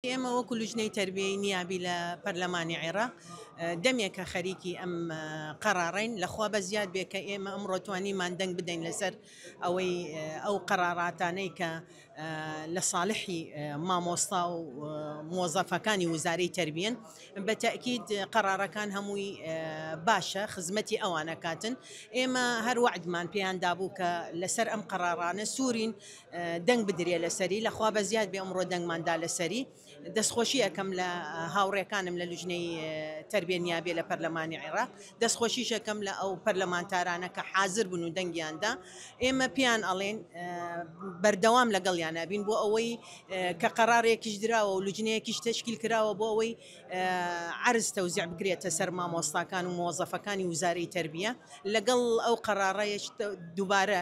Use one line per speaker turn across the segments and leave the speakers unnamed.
ئێمە وەکو لوجنەی تەربیەی نیابی لە پەرلەمانی عێراق دەمێکە خەریکی ئەم قەرارەین لەخوا بە زیاد بێ کە ئێمە ئەم ڕۆتوانیمان دەنگ بدەین لەسەر ئەوەی ئەو قەراراتانەی کە لە ساڵحی مامۆستا و مۆزەفەکانی وزارەی تربیەن بە تاکیید قەرارەکان هەمووی باشە خزمەتی ئەوانە کاتن ئێمە هەر وعدمان پێیان دابوو کە لەسەر ئەم قەرارانە سوورین دەنگ بدرێ لەسەری لە خوا بەزیاد بێ ئەمڕۆ دەنگمان دا لەسەری دەستخۆشی ئەکەم لە هاوڕێکانم لە لوجنەی تربیە نیابێ لە پەرلەمانی عێراق دەستخۆشیش ئەکەم لە ئەو پەرلەمانتارانە کە حازر بوون و دەنگیاندا ئێمە پێیان ئەڵێن بەردەوام لەگەڵیان نابین بۆ ئەوەی کە قەرارێکیش دراوە و لوجنەیەکیش تشکیل کراوە بۆ ئەوەی عرز تەوزیع بگرێتە سەر مامۆستاکان و مۆزەفەکانی وزارەی تربیە لەگەڵ ئەو قەرارەیەش دووبارە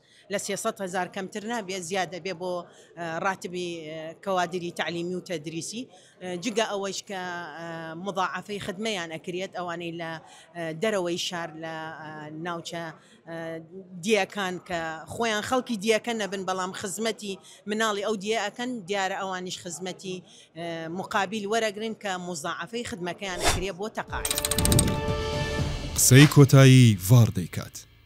لە سێ سەد هەزار کەمتر نابێت زیاد ئەبێت بۆ ڕاتبی کەوادری تەعلیمی و تەدریسی جگە ئەوەیش کە مضاعفەی خدمەیان ئەکرێت ئەوانەی لە دەرەوەی شار لە ناوچە دیەکان کە خۆیان خەڵکی دیەکە نەبن بەڵام خزمەتی مناڵی ئەو دیە ئەکەن دیارە ئەوانیش خزمەتی مقابل وەرەگرن کە مضاعفەی خدمەکەیان ئەکرێت
بۆ تەقاعد. قسەی
کۆتایی
ڤاڕ
دەیکات